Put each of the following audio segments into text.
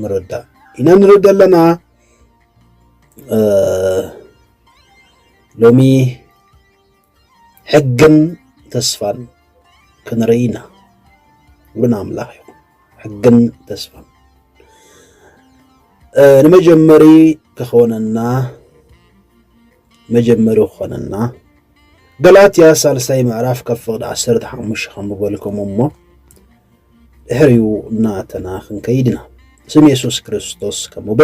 ንረዳእ ኢና ንርኢ ዘለና ሎሚ ሕግን ተስፋን ክንርኢ ኢና ብሉን ኣምላኽ እዩ ሕግን ተስፋን ንመጀመሪ ክኾነና መጀመሪ ክኾነና ገላትያ ሳልሳይ ምዕራፍ ካብ ፍቕዲ ዓሰርተ ሓሙሽተ ከምበልኩም እሞ ድሕሪኡ እናተና ክንከይድና ስም የሱስ ክርስቶስ ከምበ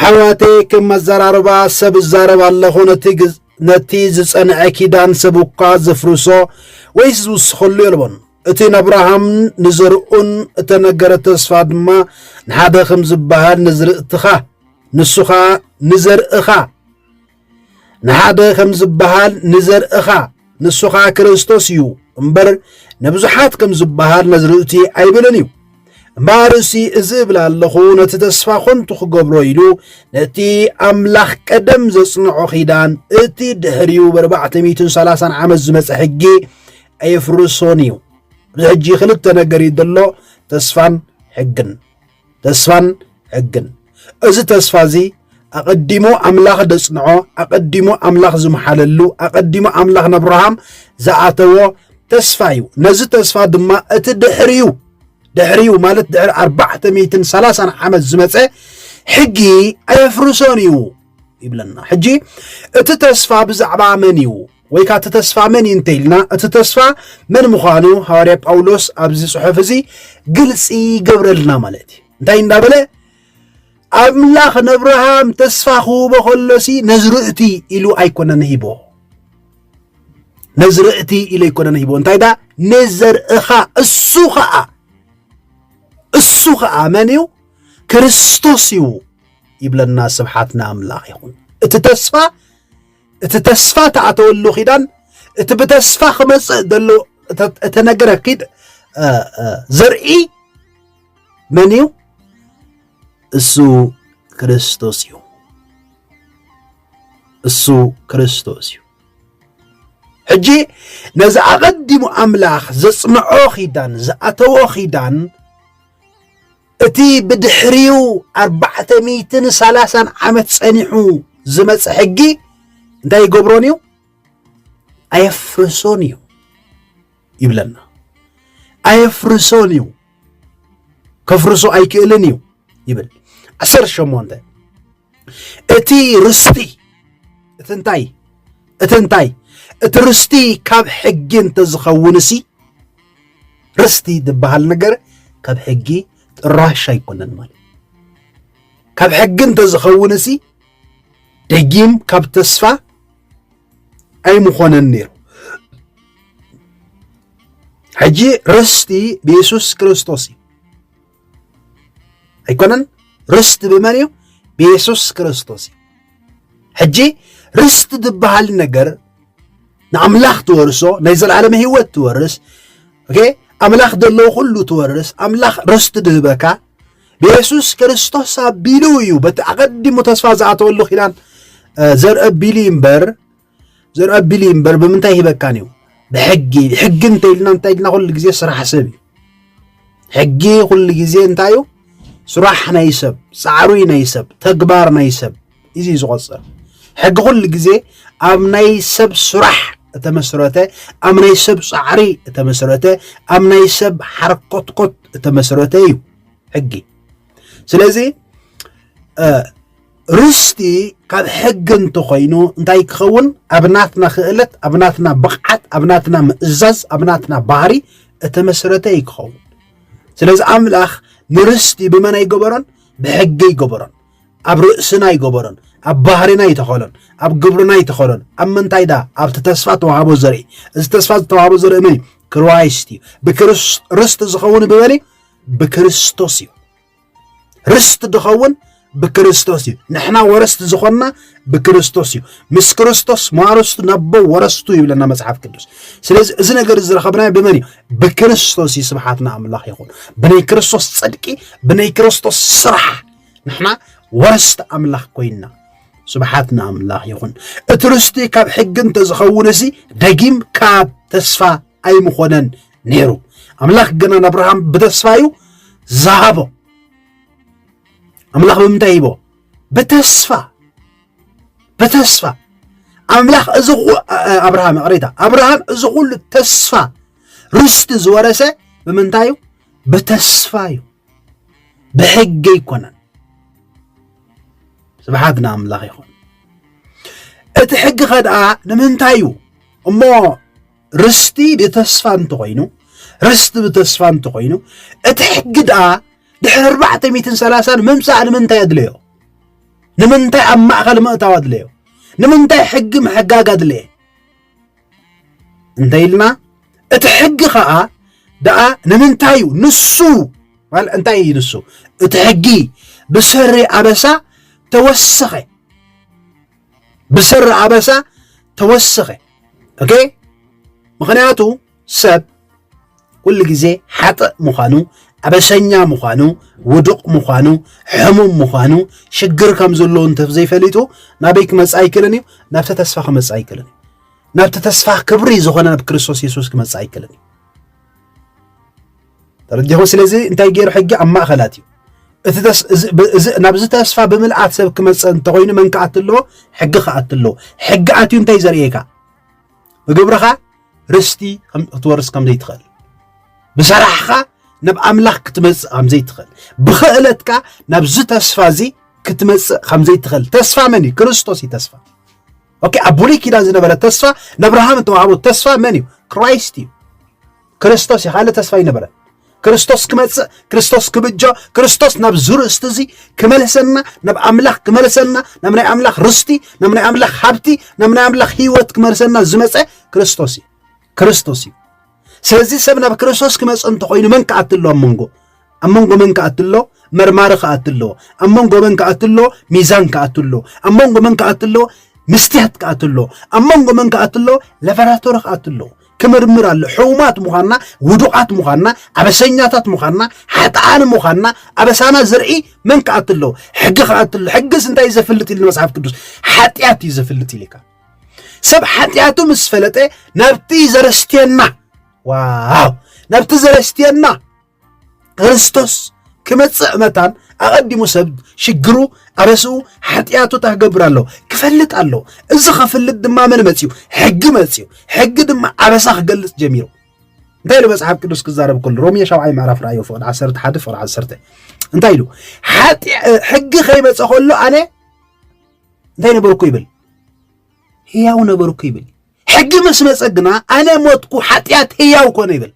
ኣሕዋተ ከም ኣዘራርባ ሰብ እዛረብ ኣለኹ ነቲ ዝጸንዐ ኪዳን ሰብ እኳ ዘፍርሶ ወይስ ዝውስኸሉ የልቦን እቲ ነኣብርሃምን ንዘርኡን እተነገረ ተስፋ ድማ ንሓደ ኸም ዝበሃል ንዝርእትኻ ንሱ ኸኣ ንዘርእኻ ንሓደ ኸም ዝበሃል ንዘርእኻ ንሱ ኸኣ ክርስቶስ እዩ እምበር ንብዙሓት ከም ዝበሃል ነዝርእቲ ኣይብልን እዩ እምበኣር እሲ እዚ እብል ኣለኹ ነቲ ተስፋ ኾንቱ ክገብሮ ኢሉ ነቲ ኣምላኽ ቀደም ዘጽንዖ ኺዳን እቲ ድሕሪኡ ብ430 ዓመት ዝመጸ ሕጊ ኣይፍርሶን እዩ እዚ ሕጂ ክልተ ነገር እዩ ዘሎ ተስፋን ሕግን ተስፋን ሕግን እዚ ተስፋ እዚ ኣቐዲሙ ኣምላኽ ደጽንዖ ኣቐዲሙ ኣምላኽ ዝመሓለሉ ኣቐዲሙ ኣምላኽ ነብርሃም ዝኣተዎ ተስፋ እዩ ነዚ ተስፋ ድማ እቲ ድሕሪዩ ድሕሪዩ ማለት ድሕሪ ኣርባዕተ ሚትን ሰላሳን ዓመት ዝመፀ ሕጊ ኣየፍርሶን እዩ ይብለና ሕጂ እቲ ተስፋ ብዛዕባ መን እዩ ወይ ከኣ እቲ ተስፋ መን እዩ እንተ ኢልና፣ እቲ ተስፋ መን ምዃኑ ሃዋርያ ጳውሎስ ኣብዚ ጽሑፍ እዚ ግልጺ ይገብረልና ማለት እዩ። እንታይ እንዳበለ ኣምላኽ ነብርሃም ተስፋ ክህቦ ከሎሲ ነዚ ርእቲ ኢሉ ኣይኮነን ሂቦ ነዚ ርእቲ ኢሉ ኣይኮነን ሂቦ እንታይ ዳ ንዘርእኻ እሱ ኸኣ እሱ ኸኣ መን እዩ ክርስቶስ እዩ ይብለና። ስብሓት ንኣምላኽ ይኹን። እቲ ተስፋ እቲ ተስፋ ተኣተወሉ ኪዳን እቲ ብተስፋ ክመጽእ ዘሎ እተነገረ ኪድ ዘርኢ መን እዩ? እሱ ክርስቶስ እዩ። እሱ ክርስቶስ እዩ። ሕጂ ነዚ ኣቐዲሙ ኣምላኽ ዘጽንዖ ኪዳን ዝኣተዎ ኪዳን እቲ ብድሕሪኡ ኣርባዕተ ሚእትን ሰላሳን ዓመት ጸኒሑ ዝመጸ ሕጊ እንታይ ይገብሮን እዩ ኣየፍርሶን እዩ ይብለና ኣየፍርሶን እዩ ከፍርሶ ኣይክእልን እዩ ይብል ዓሰርተ ሸሞንተ እቲ ርስቲ እቲ እንታይ እቲ እንታይ እቲ ርስቲ ካብ ሕጊ እንተዝኸውንሲ ርስቲ ዝበሃል ነገር ካብ ሕጊ ጥራሽ ኣይኮነን ማለት ካብ ሕጊ እንተዝኸውንሲ ደጊም ካብ ተስፋ ኣይምኾነን ነይሩ ሕጂ ርስቲ ብየሱስ ክርስቶስ እዩ ኣይኮነን ርስቲ ብመን እዩ ብየሱስ ክርስቶስ እዩ ሕጂ ርስቲ ዝበሃል ነገር ንኣምላኽ ትወርሶ ናይ ዘለዓለም ህይወት ትወርስ ኦኬ ኣምላኽ ዘለዎ ኩሉ ትወርስ ኣምላኽ ርስቲ ድህበካ ብየሱስ ክርስቶስ ኣቢሉ እዩ በቲ ኣቐዲሙ ተስፋ ዝኣተወሉ ኪዳን ዘርኢ ኣቢሉ እምበር ዘርኣቢል እዩ እምበር ብምንታይ ሂበካን እዩ ብሕጊ ሕጊ እንተኢልና እንታይ ኢልና ኩሉ ግዜ ስራሕ ሰብ እዩ ሕጊ ኩሉ ግዜ እንታይ እዩ ስራሕ ናይ ሰብ ፃዕሩ ናይ ሰብ ተግባር ናይ ሰብ እዚ እዩ ዝቆፅር ሕጊ ኩሉ ግዜ ኣብ ናይ ሰብ ስራሕ እተመስረተ ኣብ ናይ ሰብ ፃዕሪ እተመስረተ ኣብ ናይ ሰብ ሓርኮትኮት እተመስረተ እዩ ሕጊ ስለዚ ርስቲ ካብ ሕጊ እንተኾይኑ እንታይ ክኸውን ኣብ ናትና ክእለት ኣብ ናትና ብቕዓት ኣብ ናትና ምእዛዝ ኣብ ናትና ባህሪ እተመስረተ እዩ ክኸውን ስለዚ ኣምላኽ ንርስቲ ብመን ኣይገበሮን ብሕጊ ይገበሮን ኣብ ርእስና ይገበሮን ኣብ ባህሪና ይተኸሎን ኣብ ግብርና ይተኸሎን ኣብ ምንታይ ዳ ኣብቲ ተስፋ ተዋህቦ ዘርኢ እዚ ተስፋ ዝተዋህቦ ዘርኢ መን እዩ ክራይስት እዩ ብክርስት ርስቲ ዝኸውን ብበሊ ብክርስቶስ እዩ ርስቲ ድኸውን ብክርስቶስ እዩ ንሕና ወረስቲ ዝኾንና ብክርስቶስ እዩ ምስ ክርስቶስ ማረስቱ ነቦ ወረስቱ ይብለና መጽሓፍ ቅዱስ ስለዚ እዚ ነገር ዝረኸብናዮ ብመን እዩ ብክርስቶስ እዩ ስብሓትና ኣምላኽ ይኹን ብናይ ክርስቶስ ጽድቂ ብናይ ክርስቶስ ስራሕ ንሕና ወረስቲ ኣምላኽ ኮይንና ስብሓት ንኣምላኽ ይኹን እቲ ርስቲ ካብ ሕጊ እንተዝኸውን እዚ ደጊም ካብ ተስፋ ኣይምኾነን ነይሩ። ኣምላኽ ግን ንኣብርሃም ብተስፋ እዩ ዝሃቦ። ኣምላኽ ብምንታይ ሂቦ? ብተስፋ ብተስፋ ኣምላኽ እዚ ኣብርሃም ይቕሬታ፣ ኣብርሃም እዚ ኩሉ ተስፋ ርስቲ ዝወረሰ ብምንታይ እዩ? ብተስፋ እዩ፣ ብሕጊ ኣይኮነን። ስብሓት ንኣምላኽ ይኹን። እቲ ሕጊ ኸ ደኣ ንምንታይ እዩ እሞ ርስቲ ብተስፋ እንተኾይኑ ርስቲ ብተስፋ እንተኾይኑ እቲ ሕጊ ድኣ ድሕሪ ኣርባዕተ ሚትን ሰላሳን ምምፃእ ንምንታይ ኣድለዮ? ንምንታይ ኣብ ማእኸል ምእታው ኣድለዮ? ንምንታይ ሕጊ ምሕጋግ ኣድለየ? እንታይ ኢልና እቲ ሕጊ ከዓ ድኣ ንምንታይ እዩ ንሱ እንታይ እዩ ንሱ እቲ ሕጊ ብሰሪ ኣበሳ ተወሰኸ ብሰሪ ኣበሳ ተወሰኸ ኦኬ ምክንያቱ ሰብ ኩሉ ግዜ ሓጥእ ምዃኑ ኣበሰኛ ምዃኑ ውዱቕ ምዃኑ ሕሙም ምዃኑ ሽግር ከም ዘለዎ እንተዘይፈሊጡ ናበይ ክመፅእ ኣይክእልን እዩ ናብቲ ተስፋ ክመፅእ ኣይክእልን እዩ ናብቲ ተስፋ ክብሪ ዝኾነ ናብ ክርስቶስ የሱስ ክመፅእ ኣይክእልን እዩ ተረዲኹም ስለዚ እንታይ ገይሩ ሕጊ ኣብ ማእኸላት እዩ ናብዚ ተስፋ ብምልኣት ሰብ ክመፅእ እንተኮይኑ መን ክኣት ኣለዎ ሕጊ ክኣት ኣለዎ ሕጊ ኣትዩ እንታይ ዘርእየካ ብግብርኻ ርስቲ ክትወርስ ከም ዘይትኽእል ብሰራሕኻ ናብ ኣምላኽ ክትመፅእ ከም ዘይትኽእል ብክእለትካ ናብዚ ተስፋ እዚ ክትመፅእ ከም ዘይትኽእል ተስፋ መን እዩ ክርስቶስ እዩ ተስፋ ኦኬ ኣብ ብሉይ ኪዳን ዝነበረ ተስፋ ንኣብርሃም እተዋህቦ ተስፋ መን እዩ? ክራይስት እዩ። ክርስቶስ እዩ ካልእ ተስፋ ይነበረ ክርስቶስ ክመጽእ ክርስቶስ ክብጆ ክርስቶስ ናብ ዝርእስቲ እዚ ክመልሰና ናብ ኣምላኽ ክመልሰና ናብ ናይ ኣምላኽ ርስቲ ናብ ናይ ኣምላኽ ሃብቲ ናብ ናይ ኣምላኽ ህይወት ክመልሰና ዝመጸ ክርስቶስ እዩ። ክርስቶስ እዩ ስለዚ ሰብ ናብ ክርስቶስ ክመፅ እንተኮይኑ መን ክኣት ኣሎ ኣብ መንጎ ኣብ መንጎ መን ክኣት ኣሎ መርማሪ ክኣት ኣሎ ኣብ መንጎ መን ክኣት ኣሎ ሚዛን ክኣት ኣሎ ኣብ መንጎ መን ክኣት ኣሎ ምስትያት ክኣት ኣሎ ኣብ መንጎ መን ክኣት ኣሎ ለበራቶሪ ክኣት ኣሎ ክምርምር ኣሎ ሕውማት ምዃንና ውዱቓት ምዃንና ኣበሰኛታት ምዃንና ሓጥኣን ምዃንና ኣበሳና ዝርኢ መን ክኣት ኣሎ ሕጊ ክኣት ኣሎ ሕግስ እንታይ እዩ ዘፍልጥ ኢሉ መፅሓፍ ቅዱስ ሓጢኣት እዩ ዘፍልጥ ኢልካ ሰብ ሓጢኣቱ ምስ ፈለጠ ናብቲ ዘረስትየና ዋው ናብቲ ዘረስትየና ክርስቶስ ክመጽእ መታን ኣቐዲሙ ሰብ ሽግሩ ኣበስኡ ሓጢኣቱ ታክገብር ኣሎ ክፈልጥ ኣሎ እዚ ከፍልጥ ድማ መን መፅኡ ሕጊ መፅኡ ሕጊ ድማ ኣበሳ ክገልፅ ጀሚሩ እንታይ ኢሉ መፅሓፍ ቅዱስ ክዛረብ ከሉ ሮሜ ሻብዓይ ምዕራፍ ራእዮ ፍቕዲ ዓሰርተ ሓደ ፍቕዲ ዓሰርተ እንታይ ኢሉ ሕጊ ከይመፀ ከሎ ኣነ እንታይ ነበርኩ ይብል ህያው ነበርኩ ይብል ሕጊ ምስ መፀ ግና ኣነ ሞትኩ ሓጢኣት ህያው ኮነ ይብል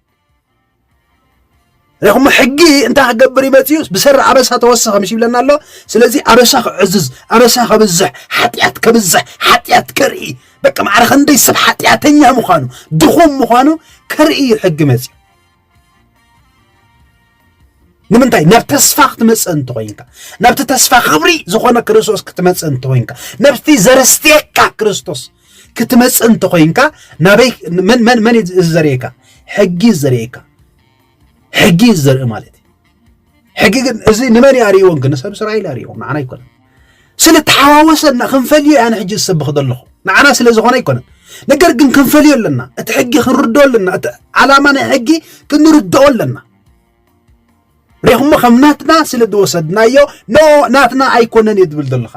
ረኽሞ ሕጊ እንታይ ክገብር ይመፅኡ ብሰሪ ኣበሳ ተወሰኸ ምሽ ይብለና ኣሎ ስለዚ ኣበሳ ክዕዝዝ ኣበሳ ከብዝሕ ሓጢኣት ከብዝሕ ሓጢኣት ከርኢ በቂ ማዕረ ክንደይ ሰብ ሓጢኣተኛ ምዃኑ ድኹም ምዃኑ ከርኢ እዩ ሕጊ መፅኡ ንምንታይ ናብ ተስፋ ክትመፅእ እንተኮይንካ ናብቲ ተስፋ ክብሪ ዝኾነ ክርስቶስ ክትመፅእ እንተኮይንካ ነብቲ ዘርስትየካ ክርስቶስ ክትመፅእ እንተኮይንካ ናበይ መን እዩ ዘርእየካ ሕጊ እዩ ዘርእየካ ሕጊ እዩ ዘርኢ ማለት እዩ ሕጊ ግን እዚ ንመን ኣርእይዎ ግን ሰብ እስራኤል ኣርእይዎ ንዓና ኣይኮነን ስለተሓዋወሰና ክንፈልዮ እያ ንሕጂ ዝሰብኽ ዘለኹ ንዓና ስለ ዝኾነ ኣይኮነን ነገር ግን ክንፈልዮ ኣለና እቲ ሕጊ ክንርድኦ ኣለና እቲ ዓላማ ናይ ሕጊ ክንርድኦ ኣለና ሬኹሞ ከም ናትና ስለ ዝወሰድናዮ ኖ ናትና ኣይኮነን እየ ዝብል ዘለኻ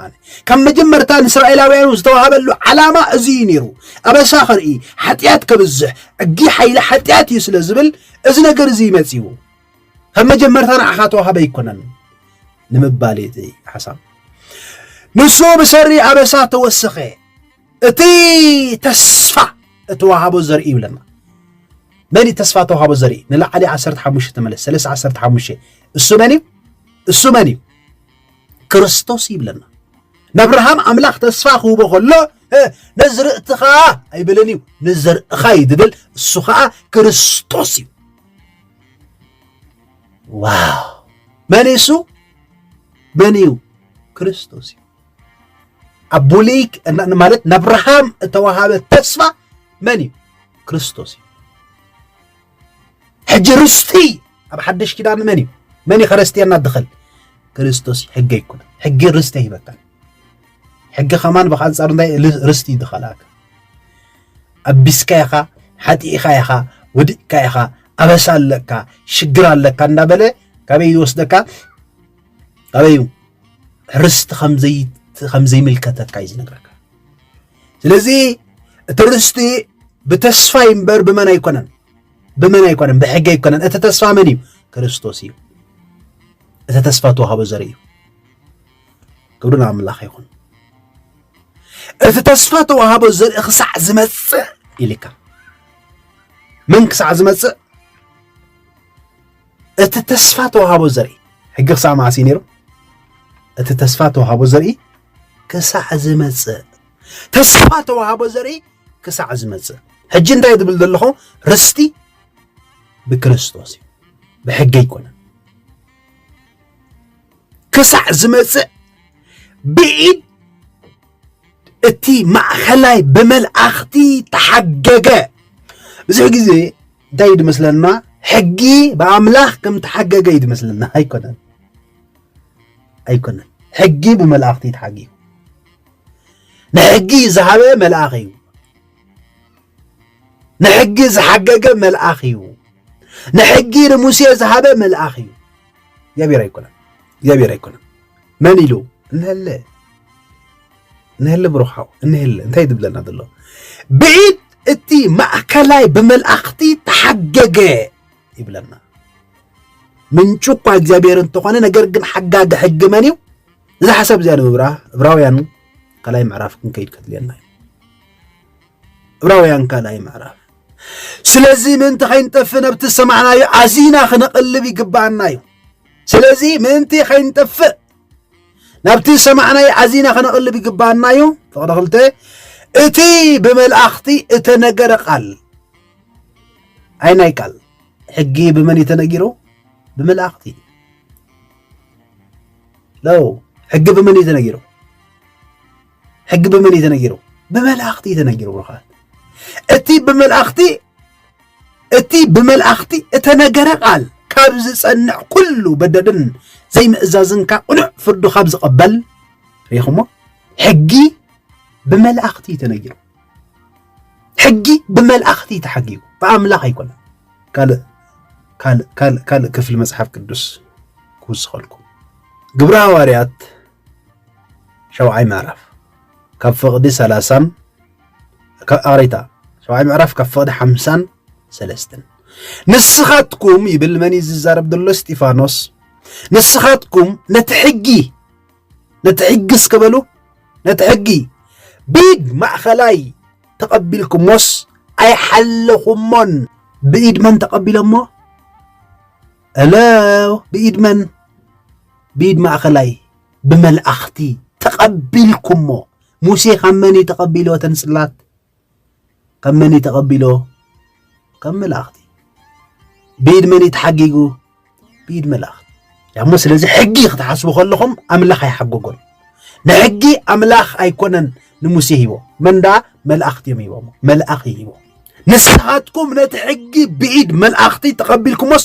ካብ መጀመርታ ንእስራኤላውያኑ ዝተዋሃበሉ ዓላማ እዚ እዩ ነይሩ ኣበሳ ከርኢ ሓጢኣት ከብዝሕ ሕጊ ሓይሊ ሓጢኣት እዩ ስለ ዝብል እዚ ነገር እዚ ይመፅኡ ከም መጀመርታ ንዓኻ ተዋህበ ኣይኮነን ንምባል እዩ እቲ ሓሳብ ንሱ ብሰሪ ኣበሳ ተወሰኸ እቲ ተስፋ እተዋሃቦ ዘርኢ ይብለና መን እዩ ተስፋ ተዋሃቦ ዘርኢ ንላዕሊ 15 ተመለስ ሰለስተ 15 እሱ መን እዩ እሱ መን እዩ ክርስቶስ ይብለና ነብርሃም ኣምላኽ ተስፋ ክህቦ ከሎ ነዚ ርእትኻ ኣይብልን እዩ ንዘርእኻ እዩ ዝብል እሱ ከዓ ክርስቶስ እዩ ዋው መን እሱ መን እዩ ክርስቶስ እዩ ኣብ ብሉይ ማለት ንኣብርሃም እተዋሃበ ተስፋ መን እዩ ክርስቶስ እዩ ሕጂ ርስቲ ኣብ ሓድሽ ኪዳን መን እዩ መን እዩ ከረስትየና ድኸል ክርስቶስ እዩ ሕገ ይኩነ ሕጊ ርስቲ ሂበካ ሕጊ ከማን ብኣንጻሩ እንታይ ርስቲ ይድኸላካ ኣቢስካ ኢኻ ሓጢእኻ ኢኻ ወዲቅካ ኢኻ ኣበሳ ኣለካ ሽግር ኣለካ እንዳበለ ካበይ ይወስደካ ካበይ ርስቲ ከምዘይምልከተካ እዩ ዝነግረካ ስለዚ እቲ ርስቲ ብተስፋይ እምበር ብመን ኣይኮነን ብመን ኣይኮነን ብሕጊ ኣይኮነን እቲ ተስፋ መን እዩ ክርስቶስ እዩ እቲ ተስፋ ተዋህቦ ዘርኢ እዩ ክብሪ ንኣምላኽ ይኹን እቲ ተስፋ ተዋህቦ ዘርኢ ክሳዕ ዝመጽእ ኢልካ መን ክሳዕ ዝመጽእ እቲ ተስፋ ተዋህቦ ዘርኢ ሕጊ ክሳዕ መዓስ እዩ ነይሩ እቲ ተስፋ ተዋህቦ ዘርኢ ክሳዕ ዝመጽእ ተስፋ ተዋህቦ ዘርኢ ክሳዕ ዝመጽእ ሕጂ እንታይ ዝብል ዘለኹ ርስቲ ብክርስቶስ እዩ ብሕጊ ኣይኮነን ክሳዕ ዝመጽእ ብኢድ እቲ ማእኸላይ ብመልኣኽቲ ተሓገገ ብዙሕ ግዜ እንታይ እዩ ድመስለና ሕጊ ብኣምላኽ ከም ተሓገገ እዩ ድመስለና ኣይኮነን ኣይኮነን ሕጊ ብመልኣኽቲ ተሓጊጉ ንሕጊ ዝሃበ መልኣኽ እዩ ንሕጊ ዝሓገገ መልኣኽ እዩ ንሕጊ ንሙሴ ዝሃበ መልኣኽ እዩ እግዚኣብሔር ኣይኮነን እግዚኣብሔር ኣይኮነን መን ኢሉ እንሀለ እንሀለ ብሩክ ሓው እንሀለ እንታይ ትብለና ዘሎ ብዒድ እቲ ማእከላይ ብመልኣኽቲ ተሓገገ ይብለና ምንጩ እኳ እግዚኣብሔር እንተኾነ ነገር ግን ሓጋጊ ሕጊ መን እዩ እዛ ሓሳብ እዚኣ ንምብራ እብራውያን ካልኣይ ምዕራፍ ክንከይድ ከድልየና እዩ ዕብራውያን ካልኣይ ምዕራፍ ስለዚ ምእንቲ ከይንጠፍ ነብቲ ዝሰማዕናዩ ኣዚና ክነቕልብ ይግብኣና እዩ ስለዚ ምእንቲ ከይንጠፍእ ናብቲ ዝሰማዕናዩ ኣዚና ክነቕልብ ይግብኣና እዩ ፍቕሪ ክልተ እቲ ብመልእኽቲ እተነገረ ቃል ኣይ ናይ ቃል ሕጊ ብመን እዩ ተነጊሩ ብመልእኽቲ ለው ሕጊ ብመን እዩ ተነጊሩ ሕጊ ብመን እዩ ተነጊሩ? ብመላእኽቲ እዩ ተነጊሩ ብሩኻት። እቲ ብመላእኽቲ እቲ ብመላእኽቲ እተነገረ ቃል ካብ ዝጸንዕ ኩሉ በደልን ዘይምእዛዝን ካብ ቅኑዕ ፍርዱ ካብ ዝቐበል ሪኹሞ ሕጊ ብመላእኽቲ እዩ ተነጊሩ። ሕጊ ብመላእኽቲ እዩ ተሓጊቡ ብኣምላኽ ኣይኮነ። ካልእ ካልእ ካልእ ክፍሊ መጽሓፍ ቅዱስ ክውስኸልኩም ግብረ ሃዋርያት ሸውዓይ ምዕራፍ ካብ ፍቕዲ ሰላሳን ኣቕሬታ ሸውዓይ ምዕራፍ ካብ ፍቕዲ ሓምሳን ሰለስትን ንስኻትኩም ይብል መን ዝዛረብ ዘሎ እስጢፋኖስ ንስኻትኩም ነቲ ሕጊ ነቲ ሕጊ እስከበሉ ነቲ ሕጊ ብኢድ ማእኸላይ ተቐቢልኩሞስ ኣይሓለኹሞን ብኢድ መን ተቐቢሎሞ እለ ብኢድ መን ብኢድ ማእኸላይ ብመልኣኽቲ ተቐቢልኩሞ ሙሴ ካብ መን እዩ ተቐቢሎ እተን ጽላት ካብ መን እዩ ተቐቢሎ ካብ መላእኽቲ ብኢድ መን እዩ ተሓጊጉ ብኢድ መላእኽቲ ያሞ ስለዚ ሕጊ ክትሓስቡ ከለኹም ኣምላኽ ኣይሓጎጎን ንሕጊ ኣምላኽ ኣይኮነን ንሙሴ ሂቦ መን ደኣ መላእኽቲ እዮም ሂቦሞ መልኣኽ ሂቦ ንስኻትኩም ነቲ ሕጊ ብኢድ መልኣኽቲ ተቐቢልኩሞስ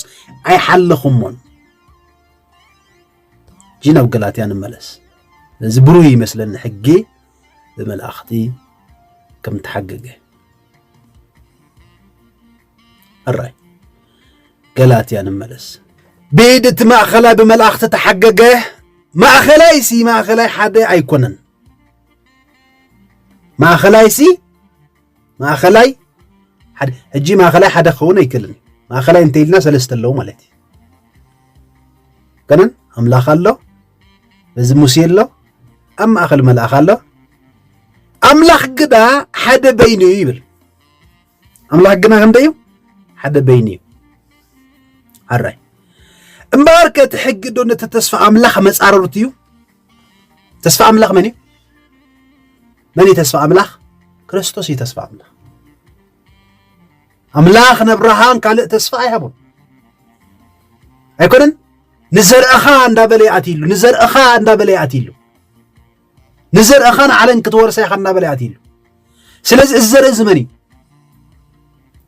ኣይሓለኹሞን እጂ ናብ ገላትያ ንመለስ ነዚ ብሩህ ይመስለኒ ሕጊ ብመልኣኽቲ ከም ተሓገገ ሕራይ ገላትያ ንመለስ ብኢድ እቲ ማእኸላይ ብመልኣኽቲ ተሓገገ ማእኸላይ ሲ ማእኸላይ ሓደ ኣይኮነን ማእኸላይ ሲ ማእኸላይ ሓደ ሕጂ ማእኸላይ ሓደ ክኸውን ኣይክእልን ማእኸላይ እንተኢልና ሰለስተ ኣለዉ ማለት እዩ ገነን ኣምላኽ ኣሎ እዚ ሙሴ ኣሎ ኣብ ማእኸል መልኣኽ ኣሎ ኣምላኽ ግዳ ሓደ በይኑ እዩ ይብል ኣምላኽ ግና ክንደይ እዩ ሓደ በይኑ እዩ ኣራይ እምበኣር ከ እቲ ሕጊ ዶ ነቲ ተስፋ ኣምላኽ መጻረሩት እዩ ተስፋ ኣምላኽ መን እዩ መን እዩ ተስፋ ኣምላኽ ክርስቶስ እዩ ተስፋ ኣምላኽ ኣምላኽ ነብርሃን ካልእ ተስፋ ኣይሃቡን ኣይኮነን ንዘርእኻ እንዳበለ ይኣትይሉ ንዘርእኻ እንዳበለ ይኣትይሉ ንዘርእኻ ንዓለም ክትወርሳ ኢኻ እናበለ ኣትዩ ኣሎ ስለዚ እዚ ዘርኢ እዚ መን እዩ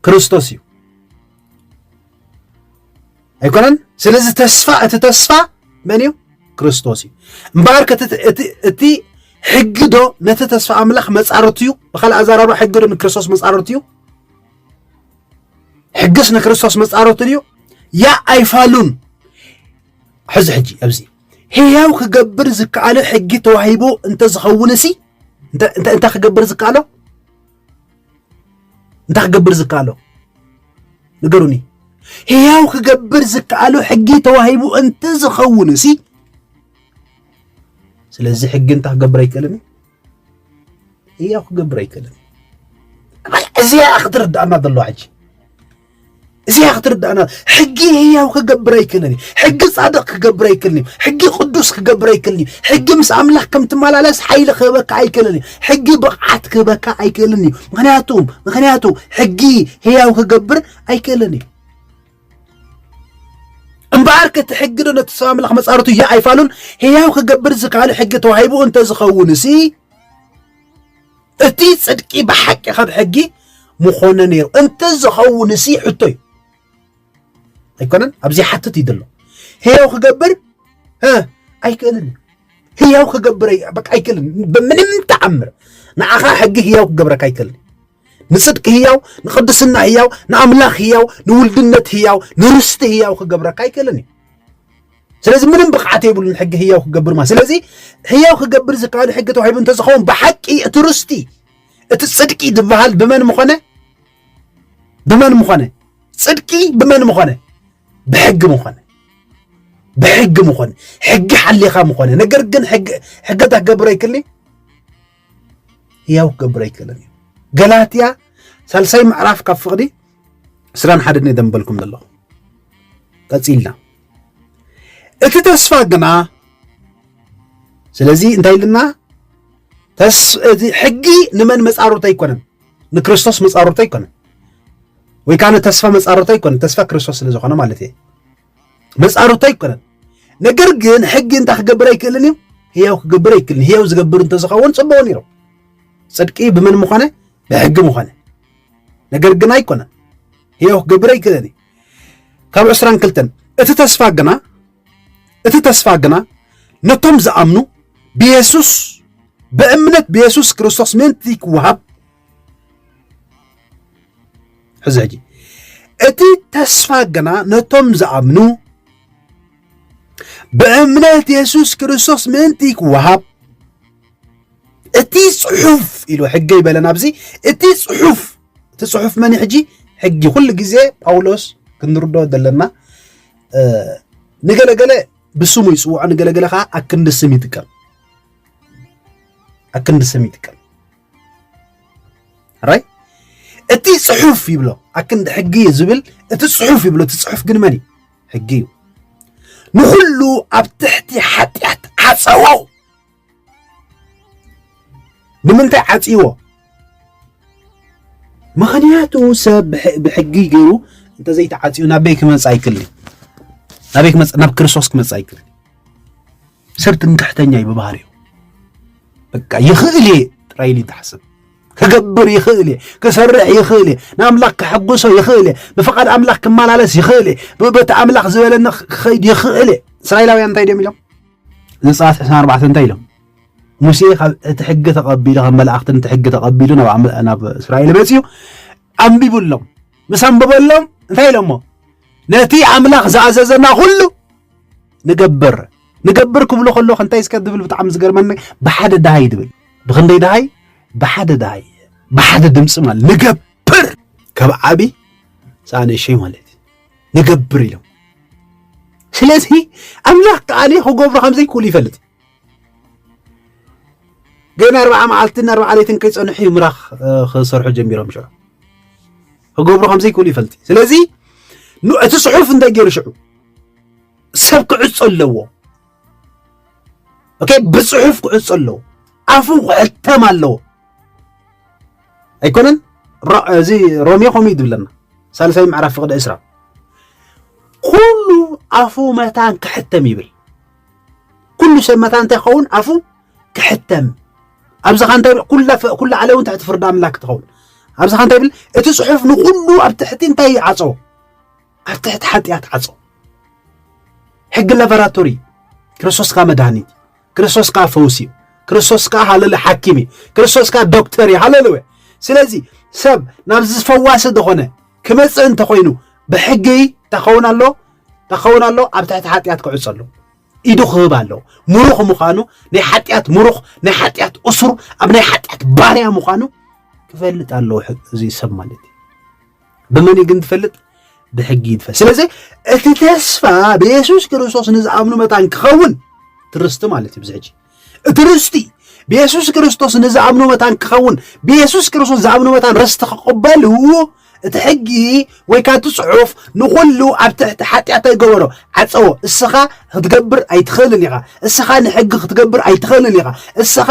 ክርስቶስ እዩ ኣይኮነን ስለዚ ተስፋ እቲ ተስፋ መን እዩ ክርስቶስ እዩ እምበኣር እቲ ሕጊ ዶ ነቲ ተስፋ ኣምላኽ መፃርቱ እዩ ብካልእ ኣዘራርባ ሕጊ ዶ ንክርስቶስ መፃርቱ እዩ ሕግስ ንክርስቶስ መፃርቱ እዩ ያ ኣይፋሉን ሕዚ ሕጂ ኣብዚ ህያው ክገብር ዝከኣሎ ሕጊ ተዋሂቡ እንተዝኸውንሲ እንታይ ክገብር ዝከኣሎ እንታይ ክገብር ዝከኣሎ ንገሩኒ ህያው ክገብር ዝከኣሉ ሕጊ ተዋሂቡ እንትዝኸውን እሲ ስለዚ ሕጊ እንታይ ክገብር ኣይክእልን ህያው ክገብር ኣይክእልን። እዚኣ ክትርዳእና ዘለዋ ሕጂ እዚኣ ክትርዳእና ሕጊ ህያው ክገብር ኣይክእልን እዩ። ሕጊ ጻድቕ ክገብር ኣይክእልን እዩ። ሕጊ ቅዱስ ክገብር ኣይክእልን እዩ። ሕጊ ምስ ኣምላኽ ከም ትመላለስ ሓይሊ ክህበካ ኣይክእልን እዩ። ሕጊ ብቕዓት ክህበካ ኣይክእልን እዩ። ምክንያቱ ምክንያቱ ሕጊ ህያው ክገብር ኣይክእልን እዩ። እምበኣርከ እቲ ሕጊዶ ነቲ ሰብ ኣምላኽ መጻርቱ ህያው ኣይፋሉን ህያው ክገብር ዝከኣሉ ሕጊ ተዋሂቡ እንተ ዝኸውንሲ እቲ ጽድቂ ብሓቂ ካብ ሕጊ ምኾነ ነይሩ እንተ ዝኸውንሲ ሕቶ እዩ ኣይኮነን ኣብዚ ሓትት እዩ ዘሎ ህያው ክገብር ኣይክእልን ህያው ክገብር በቃ ኣይክእልን ብምንም ተኣምር ንዓኻ ሕጊ ህያው ክገብረካ ኣይክእልን ንጽድቂ ህያው ንቅድስና ህያው ንኣምላኽ ህያው ንውልድነት ህያው ንርስቲ ህያው ክገብረካ ኣይክእልን እዩ ስለዚ ምንም ብቕዓት የብሉን ሕጊ ህያው ክገብር ማለት ስለዚ ህያው ክገብር ዝከኣሉ ሕጊ ተዋሂቡ እንተዝኸውን ብሓቂ እቲ ርስቲ እቲ ጽድቂ ዝበሃል ብመን ምኾነ ብመን ምኾነ ጽድቂ ብመን ምኾነ ብሕጊ ምኾነ ብሕጊ ምኾነ ሕጊ ሓሊኻ ምኾነ ነገር ግን ሕገ ተገብረ ይክልኒ ህያው ክገብር ኣይክእልን እዩ ገላትያ ሳልሳይ ምዕራፍ ካብ ፍቕዲ ስራን ሓደን እየ ደንበልኩም ዘለኹ ቀፂልና እቲ ተስፋ ግና ስለዚ እንታይ ኢልና እቲ ሕጊ ንመን መፃሮት ኣይኮነን ንክርስቶስ መፃሮት ኣይኮነን ወይ ከዓ ንተስፋ መፃሮት ኣይኮነን ተስፋ ክርስቶስ ስለዝኾነ ማለት እየ መፃርቶ ኣይኮነን ነገር ግን ሕጊ እንታይ ክገብር ኣይክእልን እዩ ህያው ክገብር ኣይክእልን ህያው ዝገብር እንተዝኸውን ፅቡቅ ነይሩ ፅድቂ ብምን ምኾነ ብሕጊ ምኾነ ነገር ግን ኣይኮነን ህያው ክገብር ኣይክእልን እዩ ካብ ዕስራን ክልተን እቲ ተስፋ ግና እቲ ተስፋ ግና ነቶም ዝኣምኑ ብየሱስ ብእምነት ብየሱስ ክርስቶስ ምእንቲ ክወሃብ ሕዚ ሕጂ እቲ ተስፋ ግና ነቶም ዝኣምኑ ብእምነት የሱስ ክርስቶስ ምእንቲ ክወሃብ እቲ ጽሑፍ ኢሉ ሕገ ይበለን ኣብዚ እቲ ጽሑፍ እቲ ጽሑፍ መን ሕጂ ሕጊ ኩሉ ግዜ ጳውሎስ ክንርዶ ዘለና ንገለገለ ብስሙ ይፅውዖ ንገለገለ ከዓ ኣክንዲ ስም ይጥቀም ኣክንዲ ስም ይጥቀም ራይ እቲ ጽሑፍ ይብሎ ኣክንዲ ሕጊ እዩ ዝብል እቲ ጽሑፍ ይብሎ እቲ ጽሑፍ ግን መን እዩ ሕጊ እዩ ንኹሉ ኣብ ትሕቲ ሓጢኣት ዓፀዎ ንምንታይ ዓፅዎ ምክንያቱ ሰብ ብሕጊ ገይሩ እንተዘይተዓፅዩ ናበይ ክመፅ ኣይክል ናበይ ክመፅ ናብ ክርስቶስ ክመፅ ኣይክል ሰብ ትምክሕተኛ እዩ ብባህሪኡ በቃ ይኽእል እየ ጥራይ ኢሉ ይተሓስብ ክገብር ይኽእል እየ ክሰርሕ ይኽእል እየ ንኣምላኽ ክሕጉሶ ይኽእል እየ ብፍቓድ ኣምላኽ ክመላለስ ይኽእል እየ በቲ ኣምላኽ ዝበለኒ ክኸይድ ይኽእል እየ እስራኤላውያን እንታይ ድዮም ኢሎም ዘፀኣት 24 እንታይ ኢሎም ሙሴ ካብ እቲ ሕጊ ተቐቢሉ ካብ መላእኽትን እቲ ሕጊ ተቐቢሉ ናብ እስራኤል መፅኡ ኣንቢቡሎም ምስ ኣንበበሎም እንታይ ኢሎሞ ነቲ ኣምላኽ ዝኣዘዘና ኩሉ ንገብር ንገብር ክብሎ ከለኹ እንታይ እስከ ዝብል ብጣዕሚ ዝገርመኒ ብሓደ ድሃይ ድብል ብክንደይ ድሃይ ብሓደ ድሃይ ብሓደ ድምፂ ማለት ንገብር ካብ ዓቢ ሳነሸይ ማለት እዩ ንገብር ኢሎም ስለዚ ኣምላኽ ከዓኒ ክገብሮ ከም ዘይክእሉ ይፈልጥ ግን ኣርባዓ መዓልትን ኣርባዓ ለይትን ከይፀንሑ እዩ ምራኽ ክሰርሑ ጀሚሮም ሽዑ ክገብሮ ከም ዘይክእሉ ይፈልጥ ስለዚ እቲ ፅሑፍ እንታይ ገይሩ ሽዑ ሰብ ክዕጾ ኣለዎ ኦኬ ብጽሑፍ ክዕጾ ኣለዎ ኣፉ ክሕተም ኣለዎ ኣይኮነን እዚ ሮሜ ከምኡ እዩ ዝብለና ሳልሳይ ምዕራፍ ፍቅዲ እስራ ኩሉ ኣፉ መታን ክሕተም ይብል ኩሉ ሰብ መታን እንታይ ክኸውን ኣፉ ክሕተም ኣብዚ ኸ እንታይ ኩላ ዓለም እውን ትሕቲ ፍርዲ ኣምላክ ትኸውን ኣብዚ ኸ እንታይ ይብል እቲ ጽሑፍ ንኩሉ ኣብ ትሕቲ እንታይ ይዓጸዎ ኣብ ትሕቲ ሓጢኣት ዓጾ ሕጊ ላቦራቶሪ ክርስቶስ ከዓ መድሃኒት እዩ ክርስቶስ ከዓ ፈውሲ እዩ ክርስቶስ ከዓ ሃለሉ ሓኪም እዩ ክርስቶስ ከዓ ዶክተር እዩ ሃለሉያ ስለዚ ሰብ ናብ ዝፈዋሲ ዝኾነ ክመፅእ እንተኮይኑ ብሕጊ ተኸውን ኣሎ ተኸውን ኣሎ ኣብ ትሕቲ ሓጢኣት ክዕፆ ኣሎ ኢዱ ክህብ ኣለዎ ምሩኽ ምዃኑ ናይ ሓጢኣት ምሩኽ ናይ ሓጢኣት እሱር ኣብ ናይ ሓጢኣት ባርያ ምዃኑ ክፈልጥ ኣለዎ እዚ ሰብ ማለት እዩ ብመን እዩ ግን ትፈልጥ? ብሕጊ እዩ ትፈልጥ። ስለዚ እቲ ተስፋ ብየሱስ ክርስቶስ ንዝኣምኑ መታን ክኸውን ትርስቲ ማለት እዩ። ብዝሕጂ እቲ ርስቲ ብየሱስ ክርስቶስ ንዝኣምኑ መታን ክኸውን ብየሱስ ክርስቶስ ዝኣምኑ መታን ርስቲ ክቕበሉ እቲ ሕጊ ወይ ካቲ ጽሑፍ ንኹሉ ኣብ ትሕቲ ሓጢኣት ኣይገበሮ ዓጸዎ እስኻ ክትገብር ኣይትኽእልን ኢኻ እስኻ ንሕጊ ክትገብር ኣይትኽእልን ኢኻ እስኻ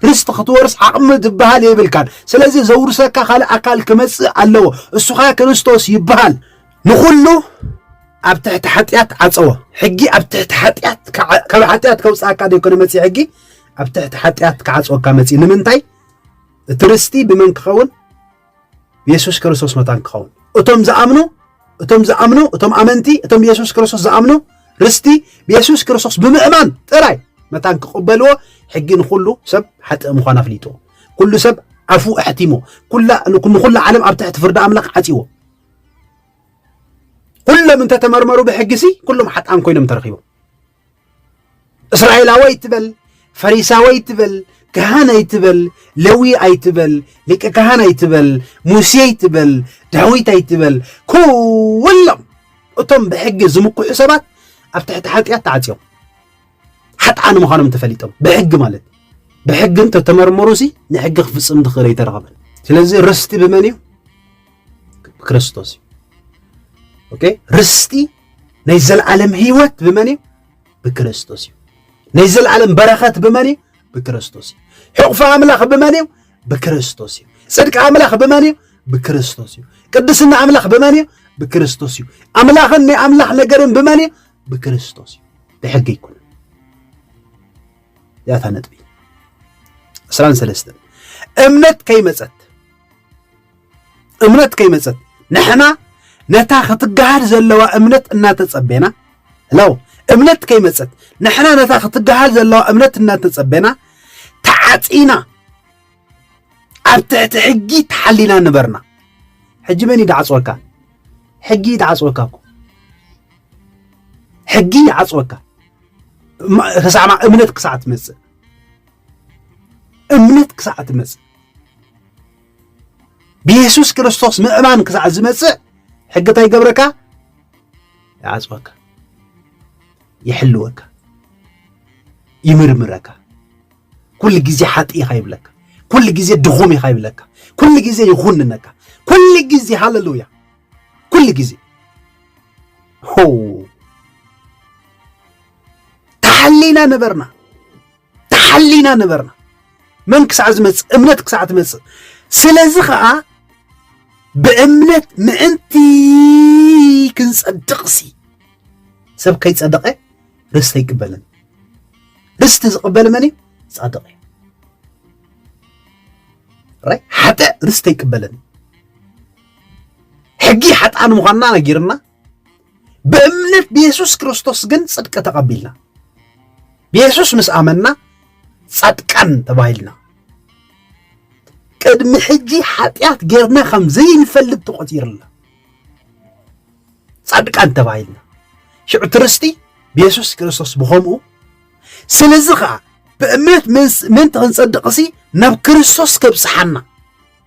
ርስቲ ክትወርስ ዓቕሚ ዝበሃል የብልካን ስለዚ ዘውርሰካ ካልእ ኣካል ክመጽእ ኣለዎ እሱኻ ክርስቶስ ይበሃል ንኹሉ ኣብ ትሕቲ ሓጢኣት ዓጸዎ ሕጊ ኣብ ትሕቲ ሓጢኣት ካብ ሓጢኣት ከውፅኣካ ዘይኮነ መፅ ሕጊ ኣብ ትሕቲ ሓጢኣት ክዓፅወካ መፅ ንምንታይ እቲ ርስቲ ብመን ክኸውን የሱስ ክርስቶስ መታን ክኸውን እቶም ዝኣምኑ እቶም ዝኣምኑ እቶም ኣመንቲ እቶም ብየሱስ ክርስቶስ ዝኣምኑ ርስቲ ብየሱስ ክርስቶስ ብምእማን ጥራይ መታን ክቕበልዎ ሕጊ ንኹሉ ሰብ ሓጥእ ምዃን ኣፍሊጡ ኩሉ ሰብ ኣፉ ኣሕቲሞ ንኹላ ዓለም ኣብ ትሕቲ ፍርዲ ኣምላኽ ዓፂዎ ኩሎም እንተተመርመሩ ብሕጊ ሲ ኩሎም ሓጣን ኮይኖም ተረኺቦም እስራኤላዊ ኣይትበል፣ ፈሪሳዊ ኣይትበል፣ ካህን ኣይትበል፣ ለዊ ኣይትበል፣ ሊቀ ካህን ኣይትበል፣ ሙሴ ኣይትበል፣ ዳዊት ኣይትበል። ኩሎም እቶም ብሕጊ ዝምክሑ ሰባት ኣብ ትሕቲ ሓጢኣት ተዓፅዮም ሓጥኣን ምዃኖም ተፈሊጦም ብሕጊ ማለት ብሕጊ እንተተመርመሩ ሲ ንሕጊ ክፍፅም ዝኽእል ኣይተረኸበን። ስለዚ ርስቲ ብመን እዩ? ብክርስቶስ እዩ ኦኬ ርስቲ ናይ ዘለዓለም ህይወት ብመን እዩ ብክርስቶስ እዩ ናይ ዘለዓለም በረኸት ብመን እዩ ብክርስቶስ እዩ ሕቑፊ ኣምላኽ ብመን እዩ ብክርስቶስ እዩ ጽድቂ ኣምላኽ ብመን እዩ ብክርስቶስ እዩ ቅድስና ኣምላኽ ብመን እዩ ብክርስቶስ እዩ ኣምላኽን ናይ ኣምላኽ ነገርን ብመን እዩ ብክርስቶስ እዩ ብሕጊ ይኩን ያታ ነጥቢ ዕስራን ሰለስተን እምነት ከይመፀት እምነት ከይመፀት ንሕና ነታ ክትገሃል ዘለዋ እምነት እናተፀቤና ለው እምነት ከይመፀት ንሕና ነታ ክትገሃል ዘለዋ እምነት እናተፀቤና ተዓፂና ኣብ ትሕቲ ሕጊ ተሓሊና ንበርና ሕጂ መን ይድዓፅወካ ሕጊ ይድዓፅወካ እኮ ሕጊ ይዓፅወካ ክሳዕ እምነት ክሳዕ ትመፅእ እምነት ክሳዕ ትመፅእ ብየሱስ ክርስቶስ ምእማን ክሳዕ ዝመጽእ ሕጊ እንታይ ይገብረካ? ይዓጽወካ፣ ይሕልወካ፣ ይምርምረካ። ኩሉ ግዜ ሓጢ ኢኻ ይብለካ፣ ኩሉ ግዜ ድኹም ኢኻ ይብለካ፣ ኩሉ ግዜ ይኹንነካ፣ ኩሉ ግዜ ሃለሉያ፣ ኩሉ ግዜ ሆ ተሓሊና ነበርና። ተሓሊና ነበርና መን ክሳዕ ዝመጽእ እምነት ክሳዕ ትመጽእ ስለዚ ከዓ ብእምነት ምእንቲ ክንጸድቕሲ ሰብ ከይጸደቐ ርስቲ ኣይቅበልን ርስቲ ዝቕበል መን እዩ ጻድቕ እዩ ራይ ሓጥእ ርስቲ ኣይቅበልን ሕጊ ሓጥኣን ምዃንና ነጊርና ብእምነት ብየሱስ ክርስቶስ ግን ጽድቂ ተቐቢልና ብየሱስ ምስ ኣመና ጻድቃን ተባሂልና ቅድሚ ሕጂ ሓጢኣት ጌርና ከም ዘይንፈልጥ ተቖጺርና ጻድቃን ተባሂልና ሽዑ ትርስቲ ብየሱስ ክርስቶስ ብኸምኡ ስለዚ ኸዓ ብእምነት ምእንቲ ክንጸድቕሲ ናብ ክርስቶስ ከብጽሓና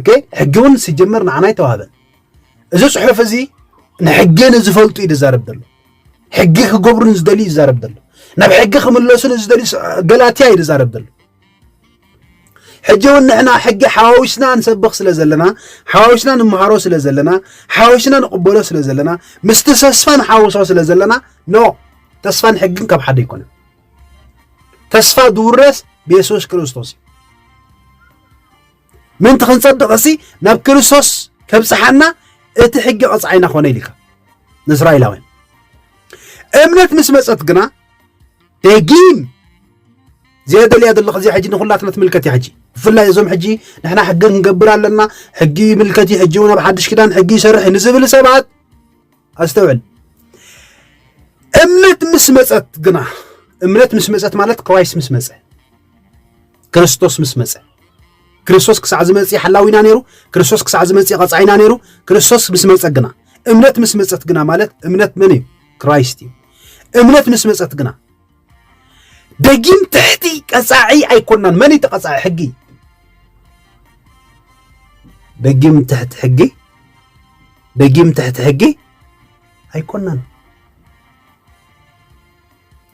ኦኬ ሕጊ እውን ሲጀመር ንዓና ኣይተዋህበን እዚ ፅሑፍ እዚ ንሕጊ ንዝፈልጡ እዩ ዝዛረብ ዘሎ ሕጊ ክገብሩ ንዝደልዩ እዩ ዝዛረብ ዘሎ ናብ ሕጊ ክምለሱ ንዝደልዩ ገላትያ እዩ ዝዛረብ ዘሎ ሕጂ እውን ንሕና ሕጊ ሓዋዊስና ንሰብኽ ስለ ዘለና ሓዋዊስና ንመሃሮ ስለ ዘለና ሓዋዊስና ንቕበሎ ስለ ዘለና ምስቲ ተስፋ ንሓውሶ ስለ ዘለና ኖ ተስፋን ሕግን ካብ ሓደ ኣይኮነን ተስፋ ዝውረስ ብየሱስ ክርስቶስ እዩ ምእንቲ ክንጸድቕሲ ናብ ክርስቶስ ከብጽሓና እቲ ሕጊ ቐጽዓይና ኾነ ኢልካ ንእስራኤላውያን እምነት ምስ መጸት ግና ደጊም ዘየደልያ ዘለኹ እዚኣ ሕጂ ንኩላትና ትምልከት እያ ሕጂ ብፍላይ እዞም ሕጂ ንሕና ሕጊ ክንገብር ኣለና ሕጊ ይምልከት እዩ ሕጂ እውን ኣብ ሓድሽ ኪዳን ሕጊ ይሰርሕ ንዝብል ሰባት ኣስተውዕል እምነት ምስ መፀት ግና እምነት ምስ መፀት ማለት ክራይስ ምስ መፀ ክርስቶስ ምስ መፀ ክርስቶስ ክሳዕ ዝመፅ ሓላዊና ነይሩ ክርስቶስ ክሳዕ ዝመፅ ቀፃዒና ነይሩ ክርስቶስ ምስ መፀ ግና እምነት ምስ መፀት ግና ማለት እምነት መን እዩ ክራይስት እዩ እምነት ምስ መፀት ግና ደጊም ትሕቲ ቀጻዒ ኣይኮናን መን እዩ ተቐጻዒ ሕጊ ደጊም ትሕቲ ሕጊ ደጊም ትሕቲ ሕጊ ኣይኮናን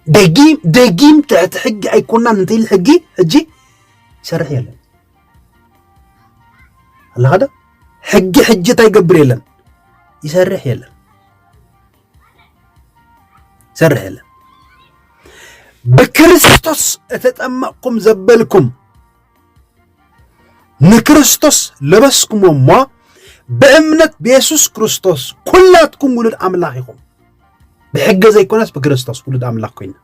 ደጊም ደጊም ትሕቲ ሕጊ ኣይኮናን እንተይል ሕጊ ሕጂ ይሰርሕ የለን ኣለኻ ዶ ሕጊ ሕጂ እንታይ ይገብር የለን ይሰርሕ የለን ይሰርሕ የለን ብክርስቶስ እተጠመቕኩም ዘበልኩም ንክርስቶስ ለበስኩም እሞ ብእምነት ብየሱስ ክርስቶስ ኩላትኩም ውሉድ ኣምላኽ ኢኹም ብሕገ ዘይኮነስ ብክርስቶስ ውሉድ ኣምላኽ ኮይና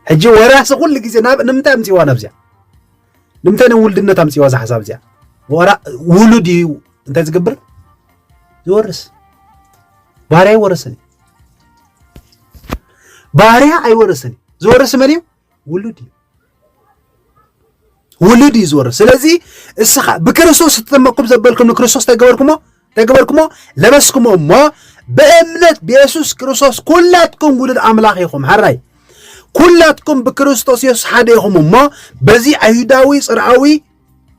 ሕጂ ወራሲ ኩሉ ግዜ ንምንታይ ኣምፅዋ ናብዚኣ ንምንታይ ናብ ውልድነት ኣምፅዋ እዛ ሓሳብ እዚኣ ዋላ ውሉድ እዩ እንታይ ዝገብር ዝወርስ ባርያ ይወረሰን እዩ ባርያ ኣይወረሰን እዩ ዝወርስ መን እዩ ውሉድ እዩ ውሉድ እዩ ዝወርስ ስለዚ እስኻ ብክርስቶስ እተጠመቅኩም ዘበልኩም ንክርስቶስ እንታይ ገበርኩሞ ተገበርኩሞ ለበስኩሞ እሞ ብእምነት ብየሱስ ክርስቶስ ኩላትኩም ውሉድ ኣምላኽ ኢኹም ሐራይ ኩላትኩም ብክርስቶስ የሱስ ሓደ ኢኹም እሞ በዚ ኣይሁዳዊ ጽርኣዊ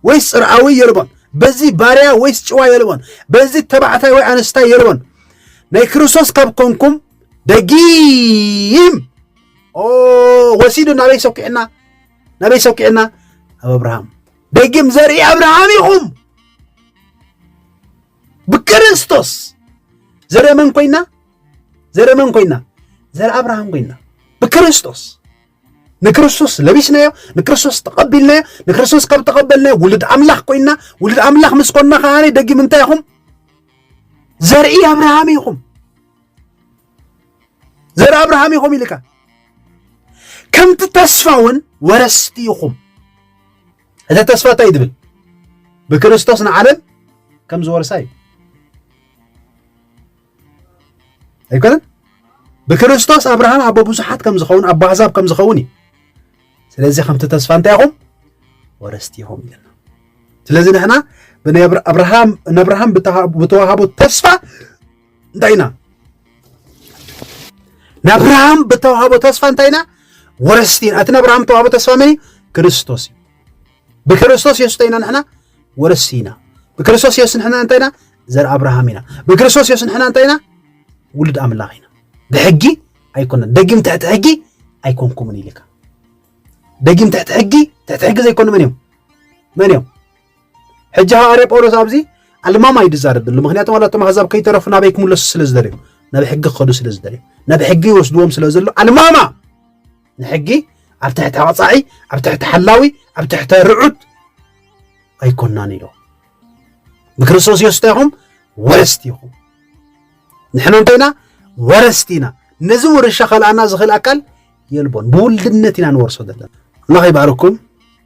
ወይስ ጽርኣዊ የልቦን በዚ ባርያ ወይስ ጭዋ የልቦን በዚ ተባዕታይ ወይ ኣንስታይ የልቦን ናይ ክርስቶስ ካብ ኮንኩም ደጊም ወሲዱ ናበይ ሰኪዕና ናበይ ሰኪዕና ኣብ ኣብርሃም ደጊም ዘርኢ ኣብርሃም ኢኹም ብክርስቶስ ዘረ መን ኮይና ዘረ መን ኮይና ዘረ ኣብርሃም ኮይና ብክርስቶስ ንክርስቶስ ለቢስናዮ ንክርስቶስ ተቐቢልናዮ ንክርስቶስ ካብ ተቐበልናዮ ውሉድ ኣምላኽ ኮይና ውሉድ ኣምላኽ ምስ ኮና ከዓኒ ደጊም እንታይ ኢኹም ዘርኢ ኣብርሃም ኢኹም ዘር ኣብርሃም ኢኹም ኢልካ ከምቲ ተስፋ እውን ወረስቲ ኢኹም እቲ ተስፋ እንታይ ትብል ብክርስቶስ ንዓለም ከም ዝወርሳ እዩ ኣይኮነን ብክርስቶስ ኣብርሃም ኣቦ ብዙሓት ከም ዝኸውን ኣቦ ኣሕዛብ ከም ዝኸውን እዩ ስለዚ ከምቲ ተስፋ እንታይ ኢኹም ወረስቲ ኢኹም ኢለና ስለዚ ንሕና ብናይ ኣብርሃም ንኣብርሃም ብተዋሃቦ ተስፋ እንታይ ኢና ንኣብርሃም ብተዋህቦ ተስፋ እንታይ ኢና ወረስቲ ኢና እቲ ንኣብርሃም ተዋህቦ ተስፋ መን እዩ ክርስቶስ እዩ ብክርስቶስ የሱስ እንታይ ኢና ንሕና ወረስቲ ኢና ብክርስቶስ የሱስ ንሕና እንታይ ኢና ዘር ኣብርሃም ኢና ብክርስቶስ የሱስ ንሕና እንታይ ኢና ውሉድ ኣምላኽ ኢና ብሕጊ ኣይኮነን ደጊም ትሕቲ ሕጊ ኣይኮንኩምን ኢልካ ደጊም ትሕቲ ሕጊ ትሕቲ ሕጊ ዘይኮኑ መን እዮም መን እዮም ሕጂ ሃዋርያ ጳውሎስ ኣብዚ ኣልማማ እዩ ዝዛረብ ዘሎ ምክንያቱ ዋላ እቶም ኣሕዛብ ከይተረፉ ናበይ ክምለሱ ስለ ዝደልዩ ናብ ሕጊ ክኸዱ ስለ ዝደልዩ ናብ ሕጊ ይወስድዎም ስለ ዘሎ ኣልማማ ንሕጊ ኣብ ትሕቲ ኣቕፃዒ ኣብ ትሕቲ ሓላዊ ኣብ ትሕቲ ርዑት ኣይኮናን ኢሎ ብክርስቶስ የሱስ እንታይ ኢኹም ወረስቲ ኢኹም ንሕና እንተይና ወረስቲ ኢና ነዚ ውርሻ ከልኣና ዝኽእል ኣካል የልቦን ብውልድነት ኢና ንወርሶ ዘለና ኣምላኽ ይባርኩም